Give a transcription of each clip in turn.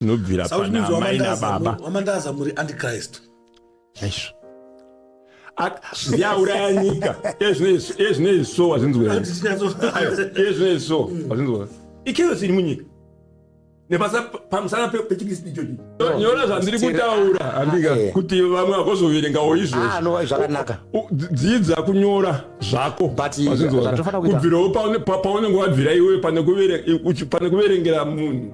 nobvira panamai nababa wamandaza muri antichrist chaizvo ndiauraya nyika ezvinoizvi so wazvinzweiezvinoizvi so wazvinzwa ikeyosi iri munyika nepamusana pechikristu ichochi nyora zvandiri kutaura handika kuti vamwe vakozoverengawo izvozvakanaka dzidza kunyora zvako kubvirawo paunenge wabvira iwe pane kuverengera munhu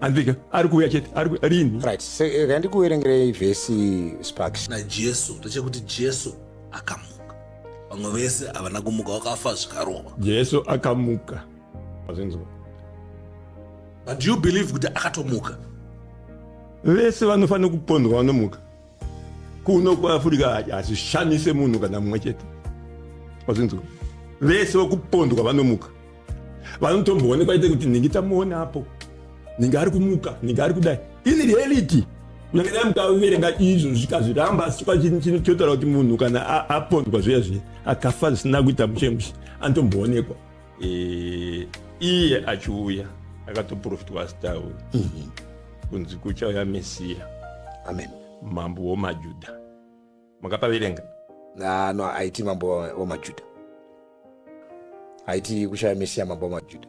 andika ari kuuya chete ari ku- rini right se- eh, rega ndikuverengerei vhesi sparks najesu ndechekuti jesu akamuka vamwe vese havana kumuka wakafa zvikarova jesu akamuka Mazvinzwa. but do you believe kuti akatomuka vese vanofanira kupondwa vanomuka kuno kuafurika hazvishamise munhu kana mumwe chete wazvinzwa vese vakupondwa vanomuka vanotomboonekwa ite kuti ningi tamuona apo ningi ari kumuka ningi ari kudai ini reality kunyange dai mukaverenga izvo zvikazviramba asi chotaura kuti munhu kana apondwa zviya zviya akafa zvisina kuita mushemushe anotomboonekwa e, iye achiuya akatoprofitwa asitauri mm -hmm. kunzi kuchauya mesiya amen mambo womajuda makapaverenga ah, no aiti mambo womajuda aiti kuchauya mesiya mambo womajuda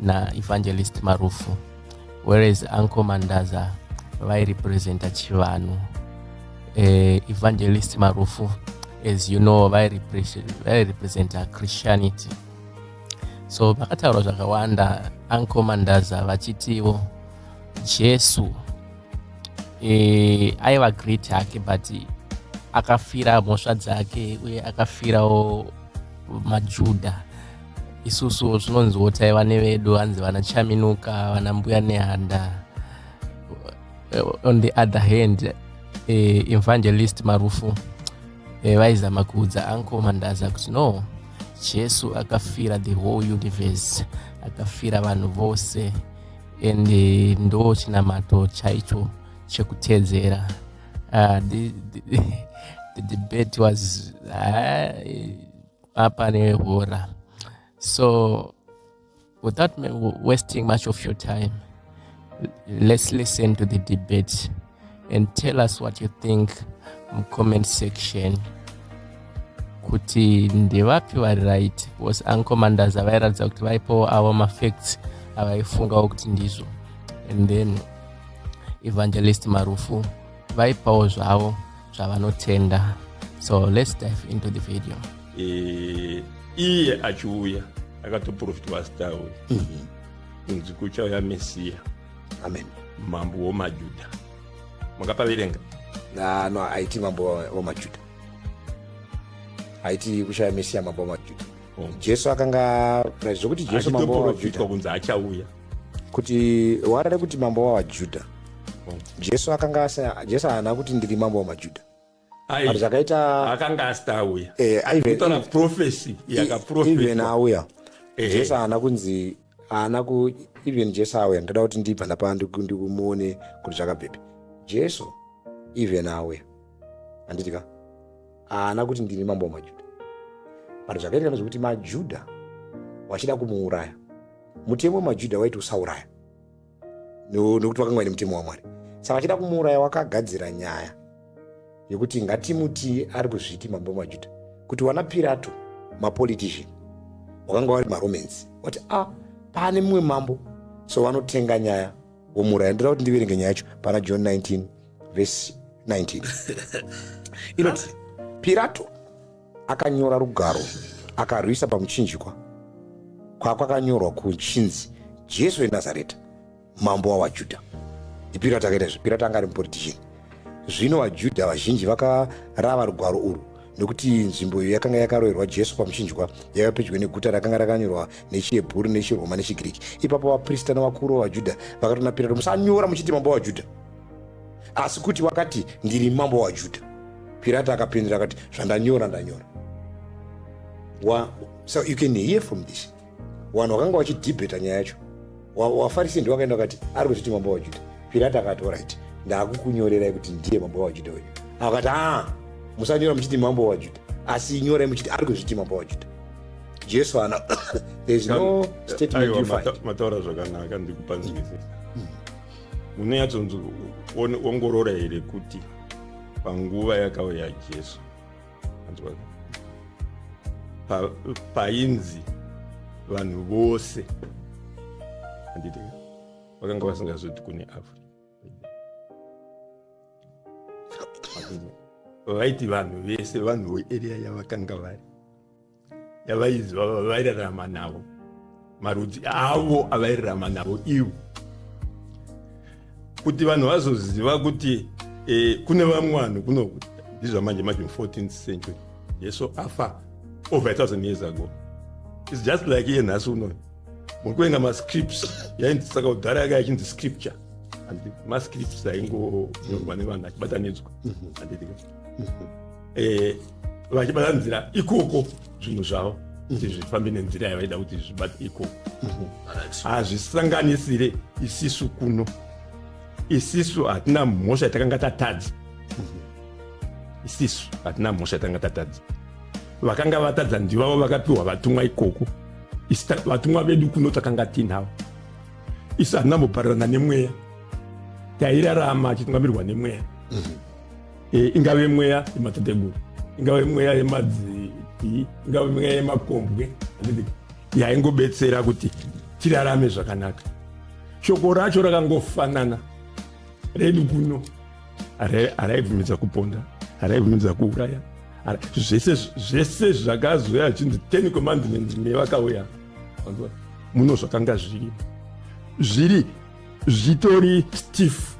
na evangelist marufu whereas uncle mandaza vairepresenta chivanhu uh, evangelist marufu as you know vairepresenta christianity so vakataura zvakawanda uncle mandaza vachitiwo jesu e, aiva great hake but akafira mhosva dzake uye akafirawo majudha isusu tinonziwo taiva nevedu hanzi vana chaminuka vana mbuya nehanda eh, on the other hand eh, evangelist marufu eh, vaizama kuudza anko mandaza kuti no jesu akafira the whole universe akafira vanhu vose and eh, ndo chinamato chaicho chekutedzera uh, the, the, the debate was uh, apa nehura so without wasting much of your time let's listen to the debate and tell us what you think mucomment section kuti ndevapi vari right because ancommanders avairatidza kuti vaipowo avo mafacts avaifungawo kuti ndizvo and then evangelist marufu vaipawo zvavo zvavanotenda so let's dive into the video e, iye achiuya akatoprofita wasita uyu mhm. kunzi kuchauya mesiya amen mambo womajuda makapaverenga no aiti mambo womajuda aiti kuchauya mesiya mambo womajuda jesu akanga zvekuti jesu mambo wavajuda kunzi achauya kuti warare kuti mambo wavajuda jesu akanga jesu haana kuti ndiri mambo wamajudha zvakaita akanga asita auya eh, aitona profesi yakaproeven auya eh. jesu haana kunzi haana ku even jesu auya ndoda kuti ndibva ndapa ndikumuone kuti zvakabvepi jesu even auya handiti ka haana kuti ndini mambo wamajuda but zvakaitika zvekuti majuda wachida kumuuraya mutemo wemajuda waiti usauraya nokuti vakanga vaine mutemo wamwari saka achida kumuuraya wakagadzira nyaya yekuti ngatimuti ari kuzviti mambo wamajuda kuti wana pirato mapolitician wakanga wari maromans wati a ah, pane mumwe mambo so vanotenga nyaya womuuraya ndoda kuti ndiverenge nyaya yacho pana john 19 vhesi 19 inoti pirato akanyora rugaro akarwisa pamuchinjikwa kwakwakanyorwa kuchinzi jesu wenazareta mambo wavajudha ipirato akaita izvi pirato anga ari mupolitician zvino vajudha vazhinji vakarava rugwaro urwu nokuti nzvimbo iyo yakanga yakaroverwa jesu pamuchinjwa yaiva pedyo neguta rakanga rakanyorwa nechihebhuru nechiroma nechigiriki ipapo vaprista navakuru vavajudha vakati kuna pirato musanyora muchiti mambo wavajudha asi kuti wakati ndiri mambo wavajudha pirato akapindura akati zvandanyora ndanyora so you can hear from this vanhu vakanga vachidhibheta nyaya yacho wafarisi ndiwo akaenda akati ari kuzviti mambo wajuda pirati akati orit ndaakukunyorerai kuti ndiye mambo wajuda uyu akati a musanyora muchiti mambo wajuda asi nyorai muchiti ari kuzviti mambo wajuda jesu ana thereis no statementmataura zvakanaka ndikupanzwisisa hmm. unoyatsonzi ongorora here kuti panguva yakauya jesu painzi vanhu vose handiti vakanga vasingazoti kune africa vaiti vanhu vese vanhu vearea yavakanga vari yavaiziva vavairarama navo marudzi avo avairarama navo ivo kuti vanhu vazoziva kuti eh, kune vamwe vanhu kunoku ndizvamanje manje mu14th century jesu afa over a thousand years ago its just like iye nhasi unoyo muri kuenga mascripts yainzi saka kudhara yaka yachinzi scripture and mascripts aingonyorwa nevanhu achibatanidzwa mm-hmm. eh, vachibata nzira ikoko zvinhu zvavo kuti mhm. zvifambe nenzira yavaida kuti zvibate ikoko mhm. hazvisanganisire isisu kuno isisu hatina mhosva yatakanga tatadza mhm. isisu hatina mhosva yatakanga tatadza vakanga vatadza ndivavo vakapiwa vatumwa ikoko vatumwa vedu kuno takanga tinavo isu hatinamboparirana nemweya tairarama achitungamirirwa nemweya e, ingave mweya yematateguru ingave mweya yemadzii ingave mweya yemakombwe yaingobetsera kuti tirarame zvakanaka shoko racho rakangofanana redu kuno haraibvumidza kuponda haraibvumidza kuuraya zvese zvese zvakazouya achinzi ten commandments nevakauya muno zvakanga zviri zviri zvitori stiff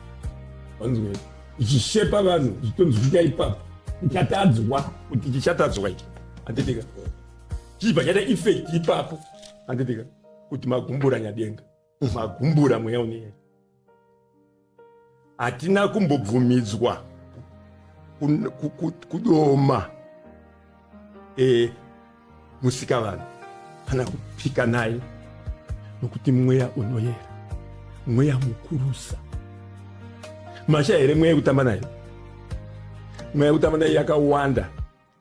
vanzwei ichishepa vanhu zvitonzi kuita ipapo ichatadzwa kuti chichatadzwa ichi handitika chichibva chaita effect ipapo handitika kuti magumbura nyadenga magumbura mweya uneya hatina kumbobvumidzwa kudoma e, musika vanhu kana kupika naye nokuti mweya unoyera mweya mukurusa masha here mweya yekutamba nayo mweya yekutamba nayo yakawanda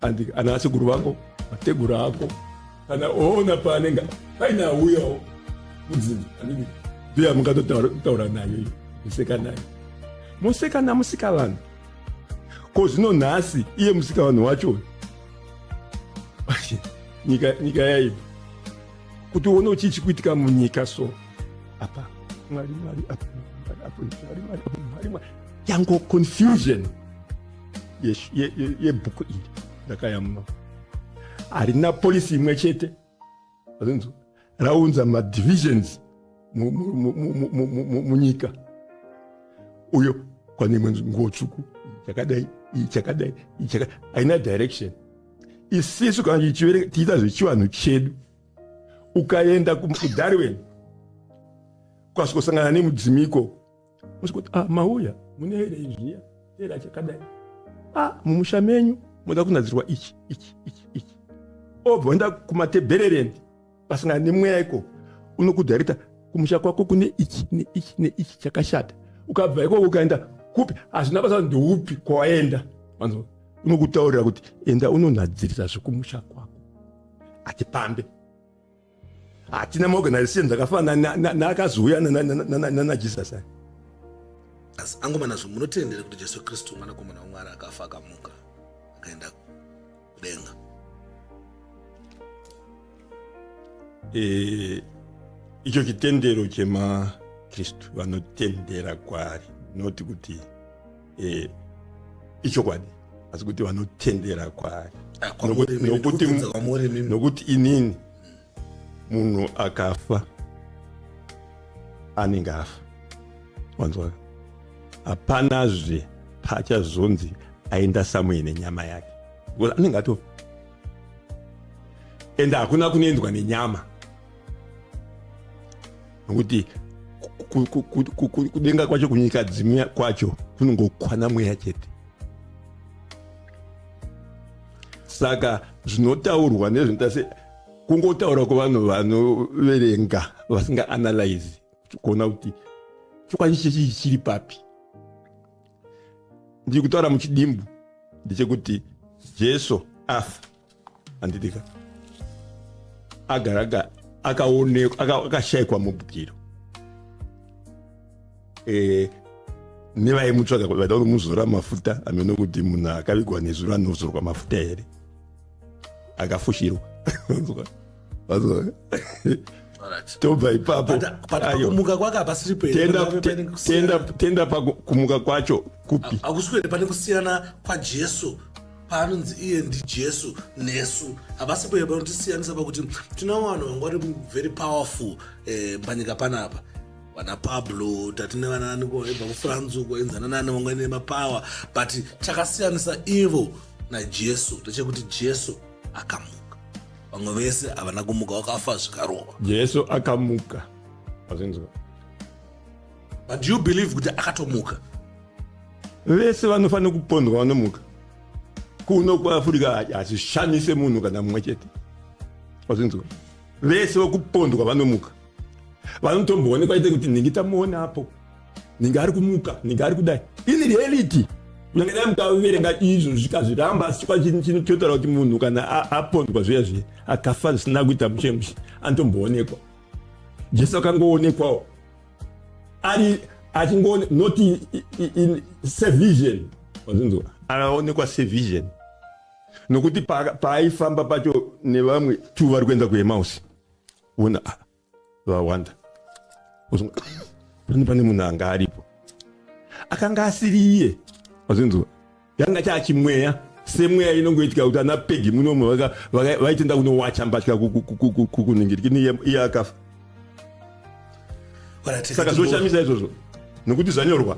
and ana asekuru vako mateguru ako kana oona paanenge paina auyawo muzinzi anenge ndoya mungatotaura nayo iyo museka nayo museka namusika vanhu ko zvino nhasi iye musika vanhu wacho nyika nyika yaiva kuti uone uchii chikuitika munyika so apa mwari mwari apo apo mwari mwari apo mwari mwari yango confusion yebhuku iri ndakayamuna harina polisi imwe chete azinzwa raunza madivisions munyika uyo kwane imwe nguo tsvuku chakadai chakadai haina direction isisu kana chichivereka tiita zvechivanhu chedu ukaenda kudarwin ukasvikosangana nemudzimiko kuti ah, mauya mune here izviya tera chakadai ah, mumusha menyu moda kunadzirwa ichi ichi ichi ichi obva oenda kumatebhererendi pasangana nemweya ikoko unokudhairita kumusha kwako kune ichi neichi neichi chakashata ukabva ikoko ukaenda kupi hazvina basa ndoupi kwawaenda manzwa unokutaurira kuti enda unonhadzirisa zvekumusha kwako atipambe hatina maorganizations akafana naakazouya nanajesus aya asi angomana zvo munotendere kuti jesu kristu mwanakomana wamwari akafa akamuka akaenda kudenga eh, icho chitendero chemakristu vanotendera kwaari noti kuti eh, ichokwadi asi kuti vanotendera kwaari ah, nokuti inini munhu akafa anenge afa wanzwaka hapanazve paachazonzi aenda samuye nenyama yake because anenge atofa ende hakuna kunoendwa nenyama nokuti kudenga kwacho kunyika dzimwe kwacho kunongokwana mweya chete saka zvinotaurwa nezvinoita se kungotaura kwevanhu vanoverenga vasinga analyze kuona kuti chokwadi chechii chiri papi ndiri kutaura muchidimbu ndechekuti jesu afa andidika agaraga akaonekwa akashayikwa mubwiro eh, nevaimutsvaga vaida kunomuzora mafuta amene kuti munhu akavigwa nezuro anozorwa mafuta here akafushirwa tobva ipapo kumuka kwake hapasiripo tenda pakumuka kwacho kupi hakusi kuenda pane kusiyana kwajesu paanonzi iye ndijesu nesu havasi kuenda panotisiyanisa pakuti tina vanhu vanga vari very powerful eh, panyika panapa vana pablo tatine vanaaniko vaibva kufrance uko enzana nani vanga ine mapower but chakasiyanisa ivo najesu ndechekuti jesu akamuka vamwe vese havana kumuka wakafa zvikarova jesu akamuka azvinzwa but you believe kuti akatomuka vese vanofanira kupondwa vanomuka kuno kuafurika hazvishamise munhu kana mumwe chete azvinzwa vese vokupondwa vanomuka vanotomboonekwa ite kuti ndingi tamuona apo ninge ari kumuka ninge ari kudai ini reality kunyange dai mukaverenga izvo zvikazviramba asi chikwa chini chino chotaura kuti munhu kana apondwa zviya zviya akafa zvisina kuita muchemushi anotomboonekwa jesu akangoonekwawo ari achingoone not in, in, in sevision wazvinzwa anaonekwa sevision nokuti paaifamba pacho nevamwe two vari kuenda kuemausi ona vawanda pane pane munhu anga aripo akanga asiri iye wazvinzwa yanga chaachimweya semweya inongoitika kuti ana pegi munomu vaitenda kunowacha mbatya kuningiriki iye akafa saka zvoshamisa izvozvo nokuti zvanyorwa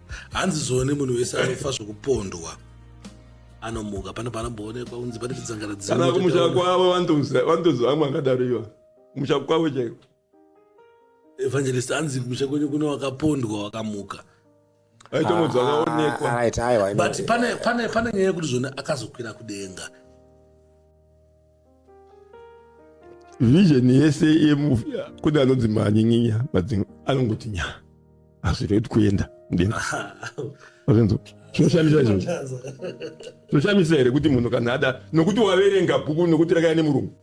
hanzi zone munhu wese anofa zvokupondwa anomuka pane panomboonekwa unzi pane tidzangana kana kumusha kwavo vantonzi vamwe angadaro iva kumusha kwavo chaiko evangelist anzi kumusha kwenyu kuno wakapondwa wakamuka aitomudzaonekwa ah, but pane nyaya yekuti zvone akazokwira kudenga vision yese yemufi kune anonzi manyenginya but anongoti nya hazvirei kuti kuenda mudenga azvinzo zvinoshamisa izvozvo zvinoshamisa here kuti munhu kana ada nokuti waverenga bhuku nokuti rakaya nemurungu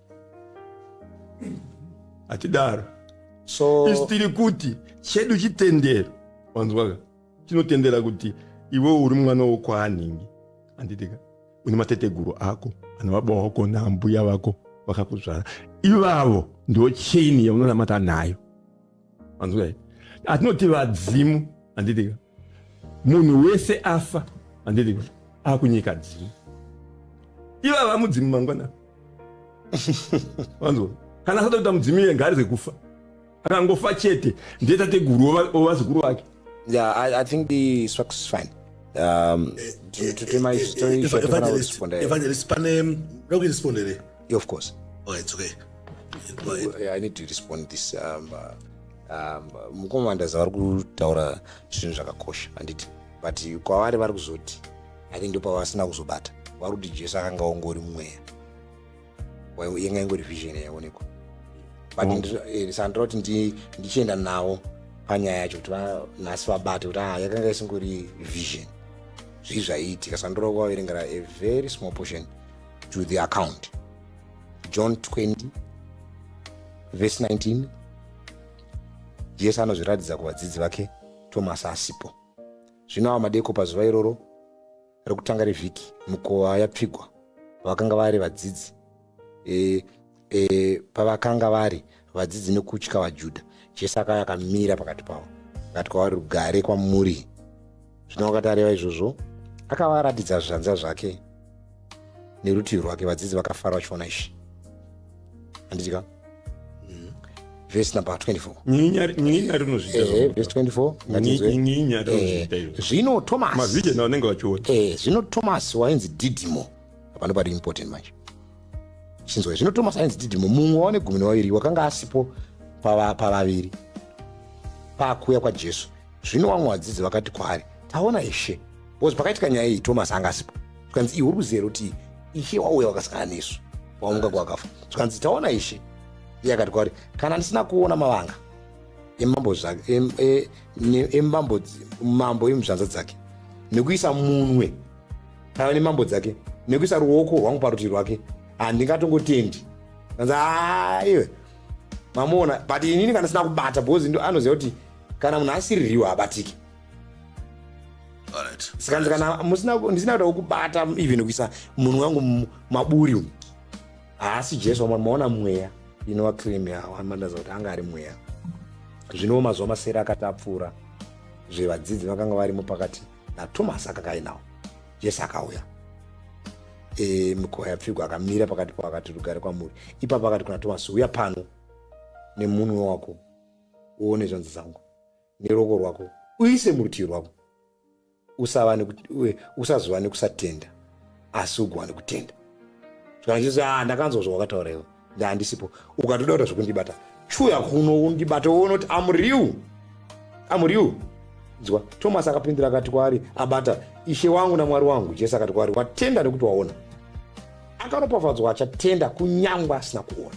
hatidaro so isi tiri kuti chedu chitendero wanzwaka chinotendera kuti iwe uri mwana wokwaanhingi handitika une mateteguru ako ana baba wako naambuya vako vakakuzvara ivavo ndo chaini yaunonamata nayo anzwai atinoti vadzimu anditika munhu wese afa anditika akunyika dzimu ivava mudzimu mangwana vanzwa kana asatoita mudzimu iye ngaari zvekufa akangofa chete ndetateguru ovazukuru vake yeah, I, i think the structure is fine um, evangelist pane ndokurisponderei of course oh, it's okay i need to respond this um, uh, um, mukoma ndaza vari kutaura zvinhu zvakakosha handiti but kwavari vari kuzoti i think ndopavasina kuzobata vari kuti jesu akanga ongori mweya yanga ingori vision yaonekwa but mm. eh, sandira kuti ndichienda nawo panyaya yacho kuti vanhasi vabate kuti ah, yakanga isingori vision zvii zvaiitika sandira kuvaverengera a very small portion to the account john 20 vese 19 jesu anozviratidza kuvadzidzi vake tomasi asipo zvino ava madeko pazuva iroro rekutanga revhiki mukova yapfigwa vakanga vari vadzidzi e, e, pavakanga vari vadzidzi nekutya vajudha jesu akauya akamira pakati pavo akati kwavari rugare kwamuri zvino wakati areva izvozvo akavaratidza zvanza zvake nerutivi rwake vadzidzi vakafara vachiona izvi handiti ka vhesi number 24 nyinya nyinya rinozviita Eh, zvona. vhesi 24 ngatizwe. Nyi- nyinya rinozviita Eh, izvo. zvino thomas mavhidhiyo nawo anenge vachiona Eh, zvino thomas wainzi didimo hapana pari important manje chinzwa zvino thomas ainzi didimo mumwe waone gumi nevaviri wakanga asipo pava- pavaviri pakuuya kwajesu zvino vamwe vadzidzi vakati kwaari taona ishe bcause pakaitika nyaya iyi thomas anga asipo zvikanzi iwe uri kuziva here kuti ishe wauya wakasangana nesu wamuka kwakafa zvikanzi taona ishe iye akati kwaari kana ndisina kuona mavanga emambo zvake e, emambo mambo emuzvanza dzake nekuisa munwe kana nemambo dzake nekuisa ruoko rwangu parutivi rwake handingatongotendi kanzi aiwe mamuona but inini kana sina kubata bcause anoziva kuti kana munhu asiririwo habatiki saka kana musina ndisina kuda kukubata even kuisa munhu wangu maburi umu haasi jesu wamwari maona mweya inova cream yawo amandaza kuti anga ari mweya zvinowo mazuva masere akati apfuura zvevadzidzi vakanga varimo pakati natomasi akakainawo jesu akauya e, mikowa yapfigwa akamira pakati pavo akati rugare kwamuri ipapo akati kuna tomasi uya pano nemunwe wako uone zvanzi dzangu neroko rwako uise murutivi rwako usazova nekusatenda asi ugowane kutenda kana chisi a ah, ndakanzwa zvawakataura iwe ndaandisipo ukatoda kuta zvekundibata chuya kuno undibata uone kuti amuriu amuriu nzwa tomasi akapindura akati kwaari abata ishe wangu namwari wangu jesu akati kwaari watenda nekuti waona akaropafadzwa achatenda kunyangwa asina kuona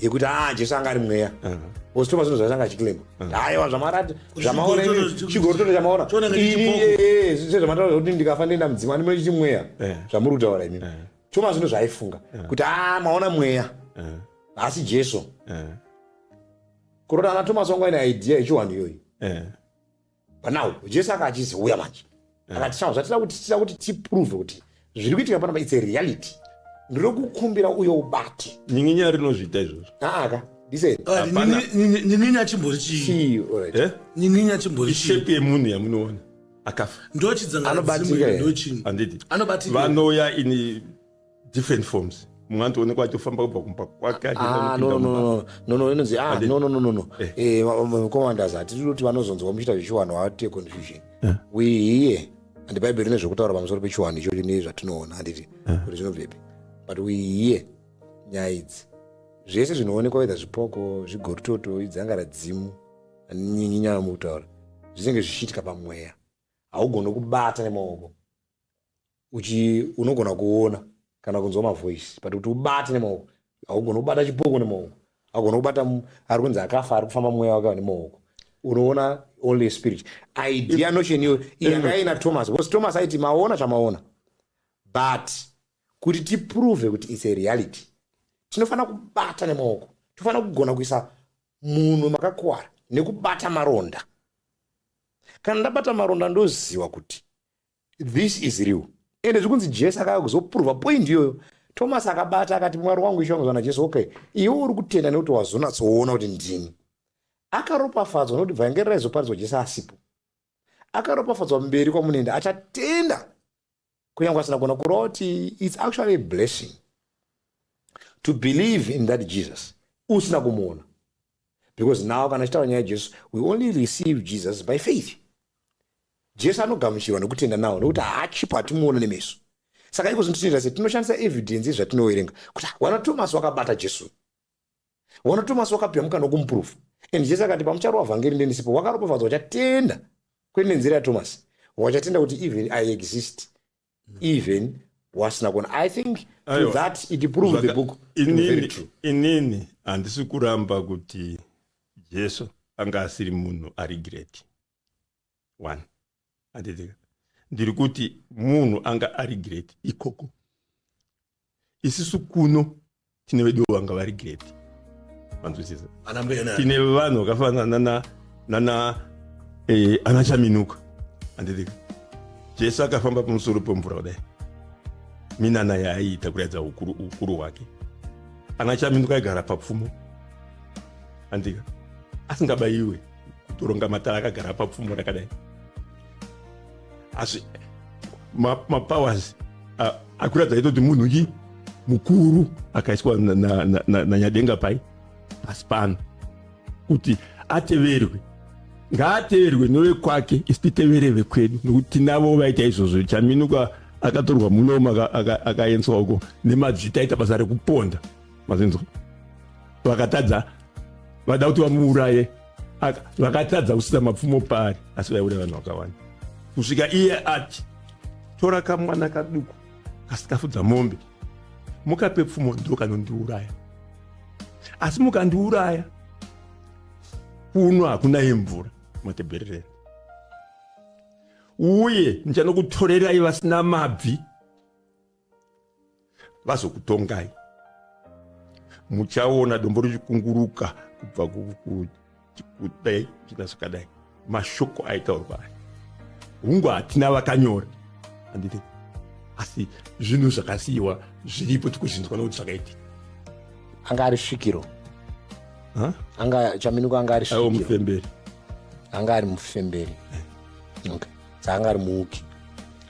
yekuti aa ah, jesu anga ari mweya ositoma zvinhu zvatanga achikilema aiwa zvamarati zvamaona chigorototo chamaona sezvamataura kuti ndikafa ndoenda mudzimu ani munochiti mweya eh. zvamuri kutaura imimi eh. choma zvinhu zvaaifunga eh. kuti aa ah, maona mweya asi jesu kurota ana tomas wangu aine idea yechiwanhu iyoyi but now jesu aka achizouya manje eh. akati chavo zvatida kuti tida kuti tiprove kuti zviri kuitika panapa its a reality ndiri kukumbira uyo ubate nyinginya rinozviita izvozvo aaka ah, nyinginya chimbori chii eh? nyinginya chimbori ishepi yemunhu yamunoona akafa ndochidzangaanobatika ndochini anditi anobatika vanoya ini different forms mumwe anotoonekwa achitofamba kubva kumba kwake ah, nono inonzi ah, nonononono eh. eh, commanders hatidi kuti vanozonzwa muchiita zvechiwanhu hawatite confusion eh. we here and bhaibheri rine zvekutaura pamusoro pechiwanhu ichocho nezvatinoona handiti kuti zvinobvepi but we here nyaya idzi zvese zvinoonekwa wedha zvipoko zvigorutoto idzanga radzimu nyinyi nyaya mukutaura zvinenge zvichiitika pamweya haugone kubata nemaoko uchi unogona kuona kana kunzwa mavoice but kuti ubate nemaoko haugona kubata chipoko nemaoko haugona kubata mu- ari kunzi akafa ari kufamba mweya wake nemaoko unoona only a spirit idea notion iyo yanga ina thomas because thomas aiti maona chamaona but kuti tiprove kuti its a reality tinofanira kubata nemaoko tinofanira kugona kuisa munhu makakuwara nekubata maronda kana ndabata maronda ndoziva kuti This is real. Ende zvikunzi Jesu akauya kuzoprova point iyoyo. Thomas akabata akati mwari wangu ishe wangu zvana Jesu okay. Iwe uri kutenda nekuti wazonatsoona kuti ndini. Akaropafadzwa nekuti vhangeri raizoparidzwa Jesu asipo. Akaropafadzwa mberi kwamunoenda achatenda kunyange asina kuona kurova kuti it's actually a blessing to believe in that Jesus usina kumuona. because now kana chitaura nyaya jesu we only receive jesus by faith jesu anogamuchirwa nekutenda nawo nekuti haachipo hatimuona nemeso saka iko zvinotitenda se tinoshandisa evidence yezvatinoverenga kuti wana tomasi wakabata jesu wana tomasi wakapihwa mukana wokumupurufu and jesu akati pamucharova vhangeri ndendisipo wakaropafadzwa wachatenda kwete nenzira yatomasi wachatenda kuti even i exist even wasina kuona i think Ayo, that it proved the book inini, inini handisi kuramba kuti jesu anga asiri munhu ari great one anditika ndiri kuti munhu anga ari great ikoko isisu kuno tine vedu vanga vari great vanzwisisa tine vanhu vakafanana nana nana eh, ana chaminuka andidika jesu akafamba pamusoro pemvura kudai minana yaaiita kuratidza ukuru, ukuru hwake ana chaminuka aigara papfumo andika asingabayiwe kutoronga matara akagara papfumo rakadai asi mapowers ma akuratidza itoti munhu chi mukuru akaiswa nanyadenga na, na, na pai pasi pano kuti ateverwe ngaateverwe novekwake isi titevere vekwedu nokuti tinavo vaita izvozvo chaminuka akatorwa munomo akaendeswa uko nemadzita aita basa rekuponda mazinzwa vakatadza vada kuti vamuuraye vakatadza kusisa mapfumo paari asi vaiuraya vanhu vakawanda kusvika iye ati tora kamwana kaduku kasikafudza mombe mukape pfumo ndo kanondiuraya asi mukandiuraya kuno hakuna yemvura matebherereni uye ndichanokutorerai vasina mabvi vazokutongai muchaona dombo richikunguruka kubva kudai china zvakadai mashoko aitaurwa aya hungu hatina vakanyora handiti asi zvinhu zvakasiyiwa zviripo tikuzvinzwa nokuti zvakaitika anga ari svikiro anga chaminuko anga ari svikiro mufemberi anga ari mufemberi eh. okay dzaanga ari muuki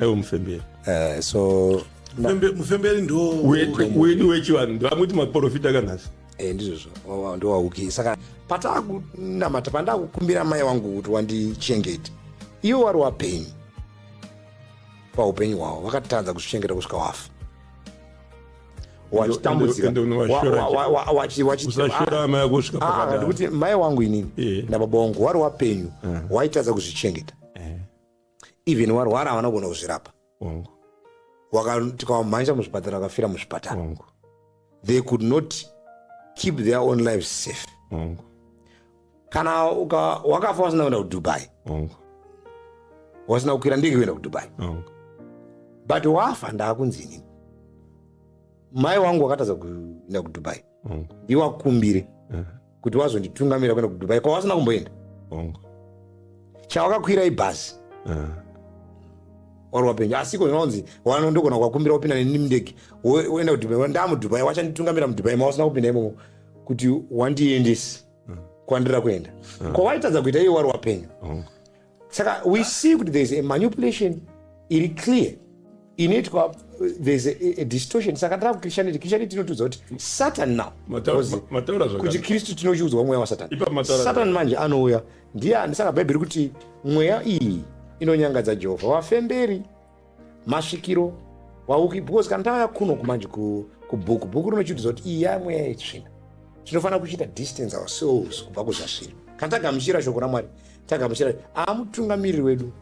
ewo mufemberi uh, so mufemberi ndowedu wechivanhu ndovamwiti maprofita kanhasi eh, ndizvozvo oh, ndowauki saka pataakunamata pandakukumbira mai wangu kuti wandichengete ivo wari wapenyu paupenyu hwavo vakatadza kuzvichengeta kusvika wafa wachitambuzikausashoramayakusvikaakandikuti ah, mai wangu inini nababa wangu wari wapenyu eh. waitadza kuzvichengeta eh. even warwara havana kugona kuzvirapa tikawamhanja muzvipatara akafira muzvipatara they could not keep their own lives safe Mungu. kana wakafa wasina kuenda kudubai wasina kukwira ndege kuenda kudubai but wafa ndaakunzi inini mai wangu wakatadza kuenda kudubai Hongu. ndiwakumbire Eh, kuti wazonditungamira kuenda kudubai kwawasina kumboenda hongu. chawakakwira ibhazi Eh, wari wapenyu asiko zvinonzi wano ndogona kuvakumbira kupinda neni mundege wo- woenda kudubai ndamudubai wachanditungamira mudubai mawasina kupinda imomo kuti wandiendesi kwandira kuenda kwawaitadza kuita iye wari wapenyu hongu. saka we see kuti thereis a manipulation iri clear inoitwa thereis a, a distortion saka tara kuchristianity christianity inotiudza kuti satan now kuti kristu tinochiudzwa mweya wasatansatan manje anouya ndiye andisaka bhaibheri kuti mweya iyi inonyangadza jehovha vafemberi masvikiro wauki because kana tava kuno kumanje kubhuku bhuku rinochiudza kuti iyi yamweya yetsvina tinofanira kuchiita distance ourselves kubva kuzvasviri kana tagamuchira shoko ramwari tagamuchira aamutungamiriri wedu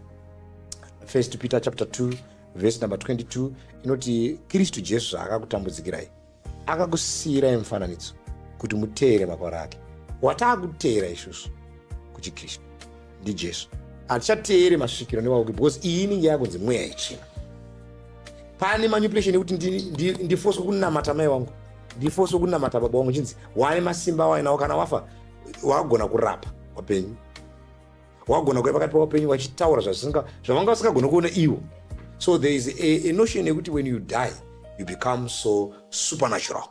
first peter chapter 2 verse number 22 inoti kristu jesu zvaakakutambudzikirai akakusiirai mufananidzo kuti muteere makwara ake wataakuteera isusu kuchikristu ndijesu hatichateere masvikiro nevauki because iyi inenge yakunzi mweya yechina pane manipulation ekuti ndifoswe kunamata mai wangu ndifoswe kunamata baba wangu chinzi wane masimba awainawo kana wafa wakugona kurapa wapenyu wagona kuya pakati pavapenyu vachitaura zvavanga vasingagona kuona ivo so there is a, a notion yekuti when you die you become so supernatural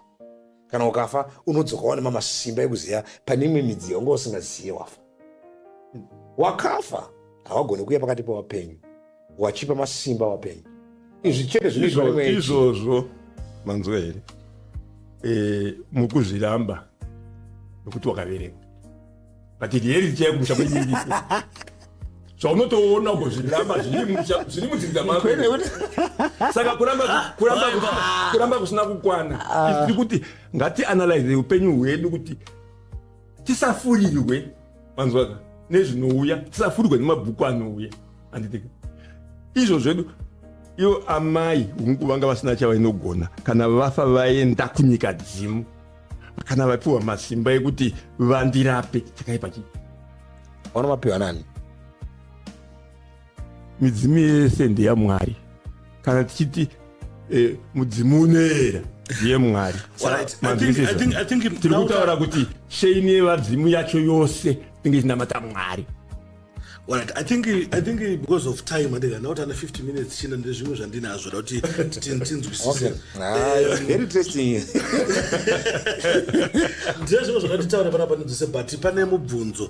kana ukafa unodzoka wane mamasimba ekuziva pane imwe midziyo unga usingazive wafa wakafa hawagone kuya pakati pavapenyu wachipa masimba wapenyu izvi chete zvinizvozvo manzwa here eh, mukuzviramba nokuti wakaverenga but riyeriti chaiyo kumusha kwenyiriko zvaunotoona uko zviramba zviri mudzinza mako saka kuramba kusina kukwana ah. tiri kuti ngatianalyze upenyu hwedu kuti tisafurirwe manzwaka nezvinouya tisafurirwe nemabhuku anouya anditika izvo zvedu ivo amai hungu vanga vasina chavainogona kana vafa vaenda kunyika dzimu kana vapiwa masimba ekuti vandirape chakaipa chii vanomapiwa nani midzimu yese ndeyamwari kana tichiti eh, mudzimu unoera yemwari tiri kutaura kuti sheini yevadzimu yacho yose inge ichinamata mwari Right. I think I think because of time andika not under 50 minutes china ndezvimwe zvandinazvo kuti tinzwisise. Ah, eh, very interesting. Ndezvimwe zvakatitaura panapa ndzise but pane mubvunzo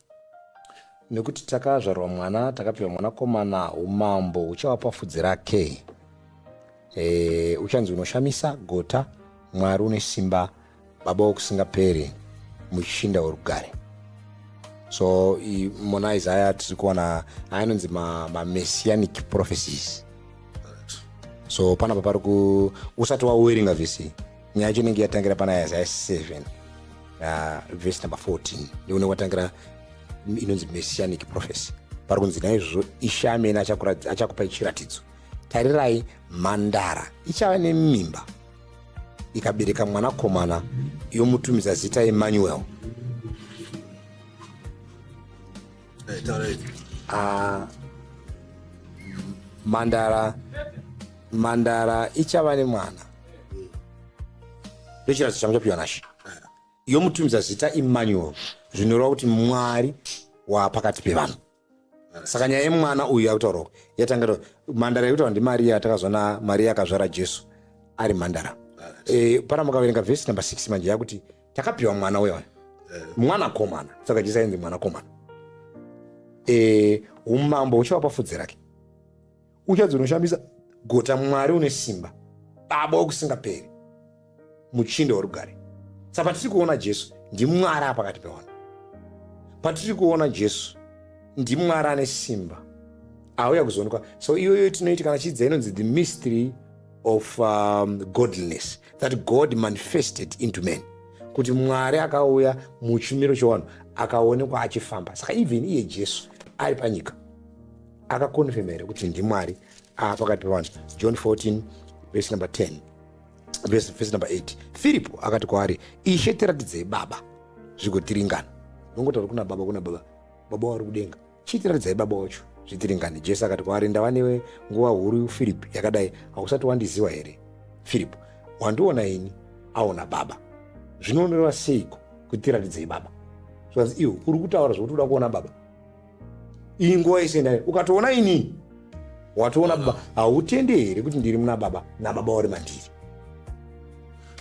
nekuti takazvarwa mwana takapiwa mwanakomana umambo uchava pafudzi rake e, uchanzi unoshamisa gota mwari une simba baba wokusingaperi muchinda werugare so mona isaya tiri kuona anonzi mamessianic ma prophecies so panapa pari ku usati wawerenga vhisi nyaya yacho inenge yatangira pana isaya 7 na vhesi number 14 ndikunenge kwatangira inonzi messianic prophecy pari kunzi naizvozvo ishe amene achakupai chiratidzo tarirai mhandara ichava nemimba ikabereka mwanakomana yomutumidza zita emmanuel uh, mhandara mhandara ichava nemwana ndochiratso changu chapiwa nashe yomutumidza zita emmanuel zvinoreva kuti mwari waapakati pevanhu saka nyaya yemwana uyu yakutaura uku yatanga mhandara yekutaura ndimariya yatakazona mariya akazvara jesu ari mhandara e, eh, pana mukaverenga vhesi number 6 manje yakuti takapiwa mwana uyo eh. mwana komana saka jisa inzi mwana komana eh, umambo uchava pafudzi rake uchadzi unoshamisa gota mwari une simba baba wokusingaperi muchinda worugare sa patiri kuona jesu ndimwari apakati pevanhu patiri kuona jesu ndimwari ane simba auya kuzoonekwa so iyoyo tinoiti kana chidza inonzi the mystery of um, godliness that god manifested into man kuti mwari akauya muchimiro chewanhu akaonekwa achifamba saka even iye jesu ari panyika akakonfirma here kuti ndimwari ah, pakati pevanhu john 14 vese number 10 vese number 8 firipo akati kwaari ishe tiratidzei baba zvigotiringana nongotauri kuna baba kuna baba baba wari kudenga Chitiratidzai baba wacho zvitiringani. Jesu akati kwaari, Ndava newe nguva huru, Firipi, yakadai, hausati wandiziva here? Firipi, wandiona ini, aona Baba. Zvinoonerwa seiko kutiratidzei Baba? Zvikanzi, iwe uri kutaura zvokuti uda kuona Baba? Iyi nguva yese ndayo, ukatoona ini, watoona Baba. Hautende here kuti ndiri muna Baba, naBaba vari mandiri?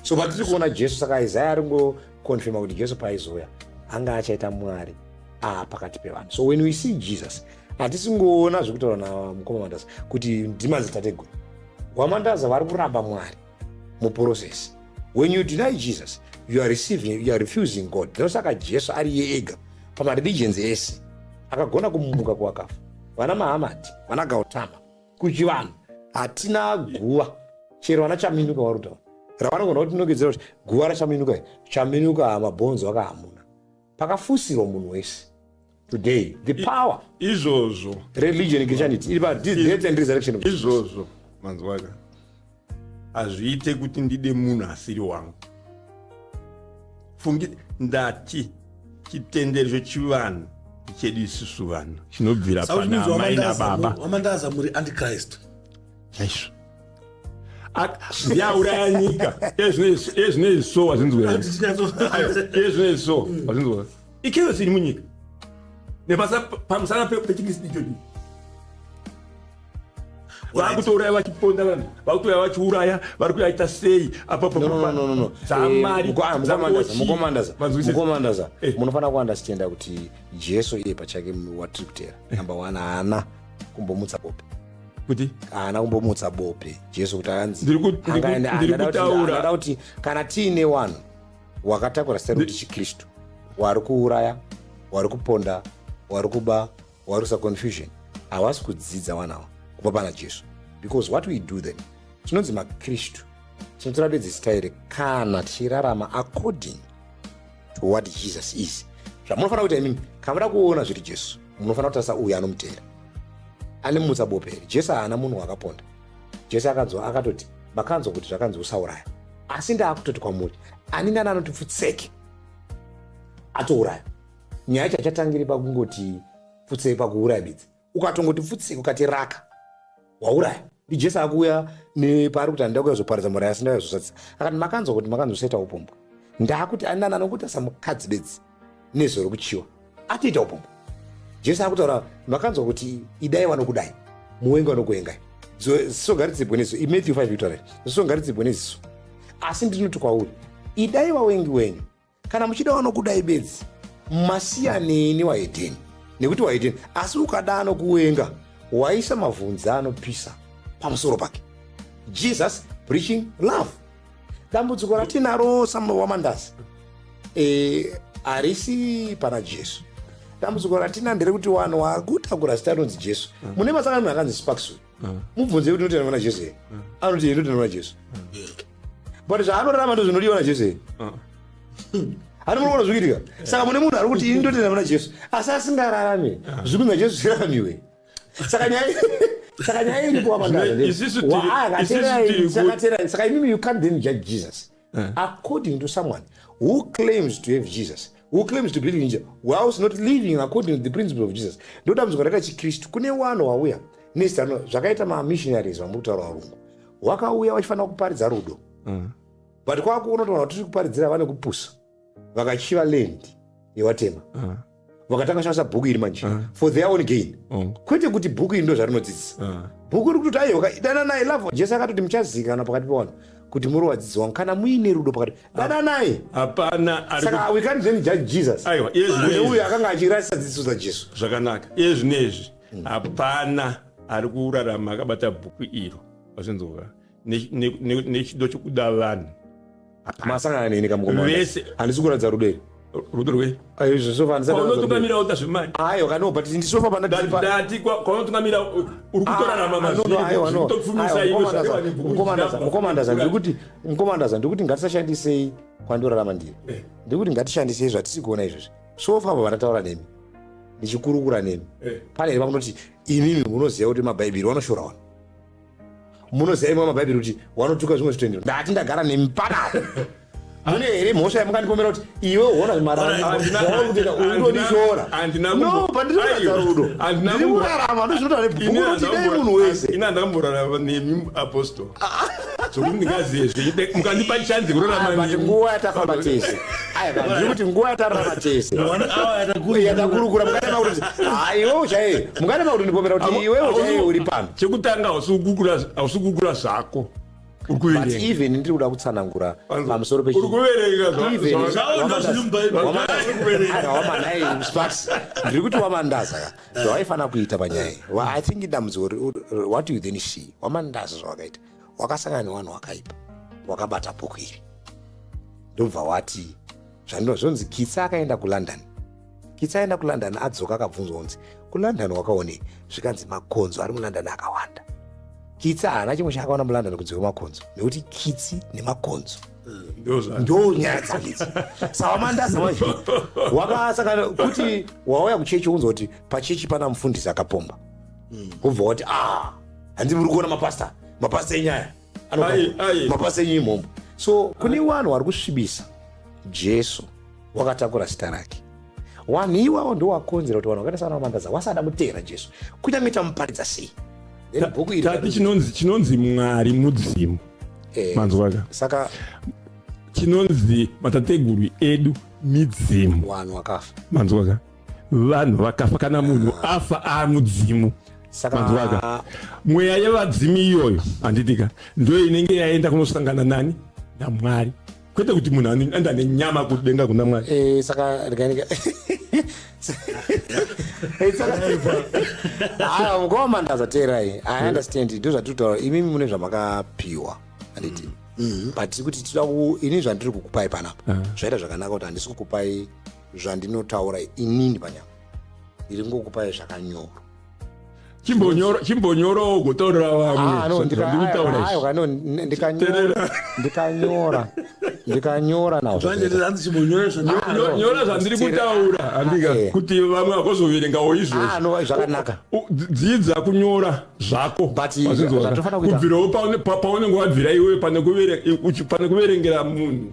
so patiri kuona jesu saka isaya aringo kukonfirma kuti jesu paaizouya anga achaita mwari aa pakati pevanhu so when we see jesus hatisingoona zvekutaura namukoma mandaza kuti ndimadzitateguru wamandaza vari kuramba mwari muprocess when you deny jesus you are receiving you are refusing god ndosaka jesu ari ye ega pamareligions ese akagona kumuka kuwakafa vana mahamati vana gautama kuchivanhu hatina guva chero vana chaminuka varutaura ravanogona kuti nogedzera kuti guva rachaminuka i chaminuka mabhonzo aka hamuna pakafusirwa munhu wese today the power izvozvo religion christianity iri pa death and resurrection izvozvo manzwaka hazviite kuti ndide munhu asiri wangu fungi ndati chitendero chechivanhu chedu isusu vanhu chinobvira pana amai nababa wamandaza muri antichrist chaizvo ndiauraya nyika ezvinei so wazvinzweezvinei so wazvinzwa ikero siri munyika nepamusana pechikristu ichochi vakutouraya vachiponda vanhu vakutouraya vachiuraya vari kuyaita sei apapamukomandaza eh, eh, eh. munofanira kuandastenda kuti jesu iye pachake watiri kutera namba one haana kumbomutsa bope kuti haana kumbomutsa bope jesu kuti anziangada kuti kana tiine wanhu wakatakura sero kuti chikristu wari kuuraya wari kuponda wari kuba warusa confusion havasi kudzidza vana ava kubva pana jesu because what we do then tinonzi makristu tinotora bedzi zita here kana tichirarama according to what jesus is zvamunofanira kuita imimi kana muda kuona zviri jesu munofanira kutarisa uyo anomutera anemutsa bope here jesu haana munhu wakaponda jesu akanzwa akatoti makanzwa kuti zvakanzi usauraya asi ndaakutoti kwamuri ani nani anoti pfutseke atouraya nyaya yacho hachatangiri pakungoti pfutsei pakuuraya bedzi ukatongoti pfutsei ukati raka wauraya ndijesu akuuya nepaari kuti andida kuya zoparidza muraya asi ndauya zosatisa akati makanzwa kuti makanzoseta upombwa ndaakuti anana nokuti asamukadzi bedzi nezvo rokuchiwa atoita upombwa jesu akutaura makanzwa kuti idai vanokudai muwengi vanokuengai zisongaridzibwe neziso imatthew 5 victory zisongaridzibwe neziso asi ndinoti kwauri idai vawengi wenyu kana muchida vanokudai bedzi masiyanei newahedheni nekuti wahedheni asi ukada anokuwenga waisa mavhunzi anopisa pamusoro pake jesus preaching love dambudziko ratinaro samuno wamandazi e, harisi pana jesu dambudziko ratina nderekuti vanhu vakutakura zita rinonzi jesu mune masanganiro akanzi sparksu mubvunze kuti inotenda vana jesu here anoti ye inotenda vana jesu but zvaanorarama ndo zvinodiwa na jesu here hati muri kuona zviri kuitika saka mune munhu ari kuti ini ndotenda vana jesu asi asingararame zviri kunzi najesu zviraramiwe saka nyaya saka nyaya iripo Zvino isisu tiri- isisu tiri kuti- wapandaaakaterai saka imimi you can't then judge jesus eh. according to someone who claims to have jesus who claims to believe in jesus whilst not living according to the principle of jesus ndodambudziko rakaita chikristu kune wano wauya nezano zvakaita mamissionaries vamuri kutaura varungu wakauya vachifanira kuparidza rudo mm. but kwava kuona kuti vanhu vatiri kuparidzira vane kupusa vakachiva land yevatema ah. vakatanga kushandisa bhuku iri manje ah. for their own gain oh. kwete kuti bhuku iri ndo zvarinodzidzisa ah. bhuku iri kutoti aiwa dananai love jesu akatoti muchazikana pakati pevanhu kuti muri wadzidzi wangu kana muine rudo pakati dananai hapana saka we can't then judge jesus aiwa iyezvine uyo akanga achirasisa dzidziso dzajesu zvakanaka iyezvine izvi hmm. hapana ari kurarama akabata bhuku iro vachinzova nechido chekuda vanhu masangana neni kamukomavese handisi kuratidza rudo iri rudo rwe zvesofanisaaunotungamira uta zvemani aiwa kano but ndisofa panadati kwaunotungamira uri kutorarama mazvitokufumisa ndikuti mukomandaza ndikuti ngatisashandisei kwandorarama ndiri eh. ndikuti ngatishandisei zvatisi kuona izvezvi sofa apa vandataura nemi ndichikurukura nemi eh. pane here pakunoti imimi munoziva kuti mabhaibheri vanoshora wani munoziva imwe mabhaibheri kuti wanotuka zvimwe zvitendero ndati ndagara nemi panapa mune here mhosva yamukandipomera kuti iwe uona zvimaraaudodishora no pandinoratidza rudo ndiri kurarama ndozvinotaura nebhukuti dai munhu wese ini handamborarama nemi apostol zvokuti ndingazive zve mukandipa chanzi kurarama nguva yatafamba tese ndiri kuti nguva yatararama tese yatakurukura mukanema kuti haiwe uchaiye mukanema kuti ndipomera kuti iwe uchaiye uri pano chekutanga hausi kugugula hausi kugugula zvako uri But kuverenga even ndiri kuda kutsanangura pamusoro uri kuverenga zva- Even- zva- Zvaona zviri muBhaibheri. Wamanda- Uri kuverenga. Ara, wamanda, eh, Sparks, ndiri kuti wamandaza ka zvawaifanira kuita panyaya iyi. Wa- i think idambudziko ri- uri- uri- what do you then see wamandaza zvawakaita wakasangana nevanhu wakaipa wakabata bhuku iri ndobva wati zvandino zvonzi kitsa akaenda kulondon Kitsa aenda kuLondon adzoka akabvunzwa kunzi kuLondon wakaonei zvikanzi makonzo ari muLondon akawanda. Kitsa haana chimwe chaakaona muLondon kunze kwemakonzo nekuti kitsi nemakonzo ndo nyaya dzandidzi sawamandaza manje wakasakana kuti wauya kuchechi unzwa kuti pachechi pana mufundisi akapomba wobva wati a ah, hanzi muri kuona mapasta mapasta enyaya mabasa enyu imomo so kune vanhu vari kusvibisa jesu wakatakura zita rake wanhu iwawo ndowakonzera kuti vanhu vakaita sana vamandaza wasada kuteera jesu kunyange tamuparidza sei bhuku iri tati chinonzi chinonzi mwari mudzimu eh, manzwaka saka chinonzi matateguru edu midzimu wanhu wakafa manzwaka vanhu vakafa kana munhu afa amudzimu saka mweya yevadzimu iyoyo handitika ndo inenge yaenda kunosangana nani namwari kwete kuti munhu anoenda nenyama kudenga kuna mwari eh, saka rikanika haa mukoma mandaza teerai i understand ndo zvatiri kutaura imimi mune zvamakapiwa handiti mm-hmm. but tiri kuti tida ini zvandiri kukupai panapa ah. zvaita zvakanaka kuti handisi kukupai zvandinotaura inini panyama ndiri ngokupai zvakanyorwa chimbonyorawo ugotaurira vamwendikanyora ah, ndikanyora nazvonyora ah, zvandiri kutaura handika eh. kuti vamwe vakozoverengawo izvozvozvakanaka ah, dzidza kunyora zvako kubvirawo paunenge wabvira iwe pane kuverengera munhu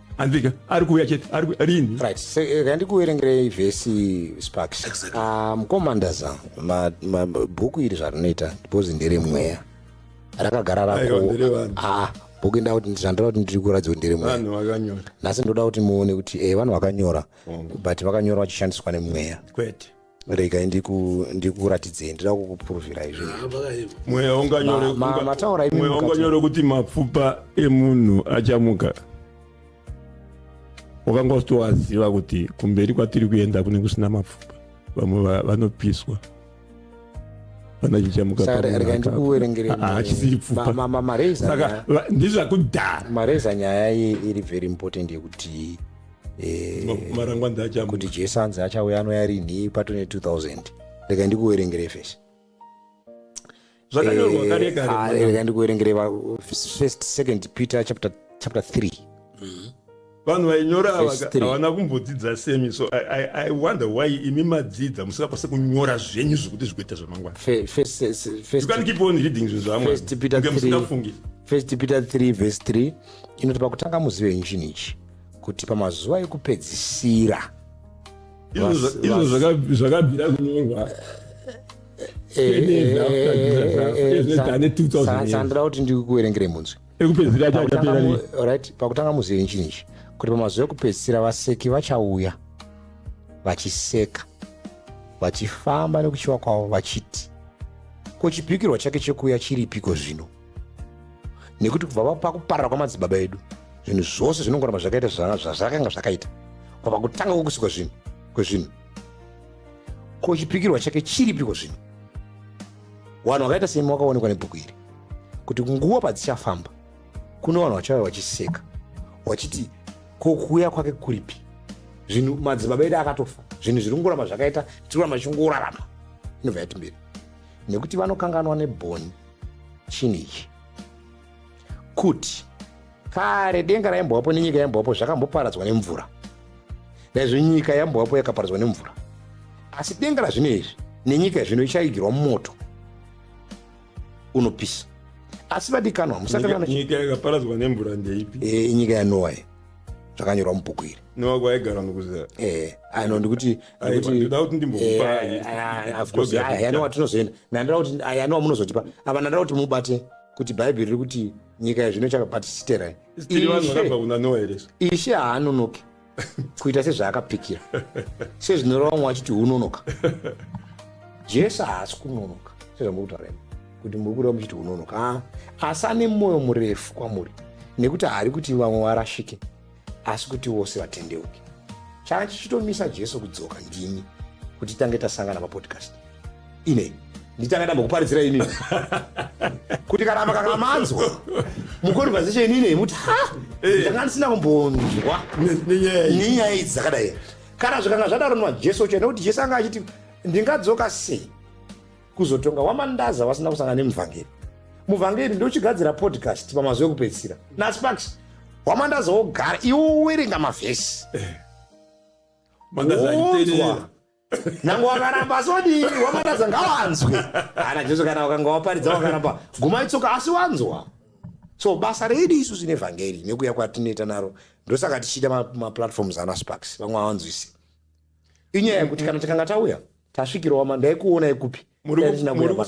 handika ari kuuya chete ari ku- rini right se- eh, ngandikuverengerei vhesi sparks Exactly. Ah, mukoma ndaza ma- ma- bhuku iri zvarinoita because ndere mweya rakagara Aiwa, rako ndere vanhu. Ah, bhuku inda kuti zvandoda kuti ndiri kuratidza kuti ndere mweya vanhu vakanyora nhasi ndoda kuti muone kuti eh, vanhu vakanyora but vakanyora vachishandiswa nemweya kwete regai ndikuratidzei ndida kukupuruvira izvomweya unganyore kuti mapfupa emunhu achamuka wakanga usitowaziva kuti kumberi kwatiri kuenda kune kusina mapfupa vamwe vanopiswa vanochamukaaachisiripfupamareza nyaya iri very important yekuti eh, marangwanzi achamuka kuti jesu anzi achauya anouya rinhi pato ne 2000 rega ndikuverengere fesi zvakanyorwa Eh, kare kare ah, rega ndikuverengere va- first second peter chapter chapter 3 vanhu vainyora ava Verse three. havana kumbodzidza semi so I, I, i wonder why imi madzidza musingakwanise kunyora zvenyu zvekuti zvikuita zvamangwana Fe- first you first can keep on reading zvinhu zvamwe First Peter 3 musingafungi First Peter 3 verse 3 inoti pakutanga muzive nyu chinhu ichi kuti pamazuva ekupedzisira izvo zvakabvira kunyorwa sandira kuti ndikuverengere munzwi pakutanga muzivi chini ichi kuti pamazuva ekupedzisira vaseki vachauya vachiseka vachifamba nekuchiva kwavo vachiti ko chipikirwa chake chekuuya chiripiko zvino nekuti kubva vava pakuparara kwamadzibaba edu zvinhu zvose zvinongoramba zvakaita zvazvakanga zvakaita kwava kutanga kwokusikwa zvinhu kwezvinhu ko chipikirwa chake chiripiko zvino vanhu vakaita semi vakaonekwa nebhuku iri kuti nguva padzichafamba kune vanhu vachauya vachiseka vachiti ko kuuya kwake kuripi zvinhu madzibaba edu akatofa zvinhu zviri kungoramba zvakaita tiroramba chingorarama inobva yati mberi nekuti vanokanganwa nebhoni chinhu ichi kuti kare denga raimbovapo nenyika yaimbovapo zvakamboparadzwa nemvura naizvo nyika yambovapo yakaparadzwa nemvura asi denga razvino izvi nenyika yazvino ichaigirwa mumoto unopisa asi vadikanwa musakanyika yakaparadzwa nemvura ndeipi eh, inyika yanowa zvakanyorwa mubhuku iri nowa kwaigara nokuzera eh, ano ndikuti ndimbomupayandiwa tinozoenda nandira kuti ayani wamunozotipa ava nandira kuti mubate kuti bhaibheri riri kuti nyika yezvino chakabhatisiterai ishe haanonoki kuita sezvaakapikira sezvinoreva vamwe vachiti unonoka jesu haasi kunonoka sezvamukutaura imi kuti muri kureva muchiti unonoka ah, asi ane mwoyo murefu kwamuri nekuti haari kuti vamwe varashike asi kuti vose vatendeuke changa chichitomisa jesu kudzoka ndini kuti tange tasangana papodcast inei nditanga ndambokuparidzira ini kuti kana makakamanzwa muconversation inei muti ha eh. ndanga ndisina kumbonzwa nenyaya idzi dzakadai kana zvikanga zvadaro nwa jesu chena kuti jesu anga achiti ndingadzoka sei kuzotonga wamandaza wasina kusangana nemuvhangeri muvhangeri ndochigadzira podcast pamazuva ekupedzisira nasparks wamandaza wogara iwe uwerenga mavhesi Mandaza Wonzwa. aiterera. nange wakaramba asi wadii wamandaza ngawanzwe ana jesu kana wakanga waparidza wakaramba guma itsoka asi wanzwa so basa redu isu zvine vhangeri nekuya kwatinoita naro ndosaka tichiita ma- maplatforms ana sparks vamwe awanzwisi inyaya yekuti kana tikanga tauya Tasvikirwa wama ndaikuonai kupi? Muri Dai ku- ndisina muri kuuya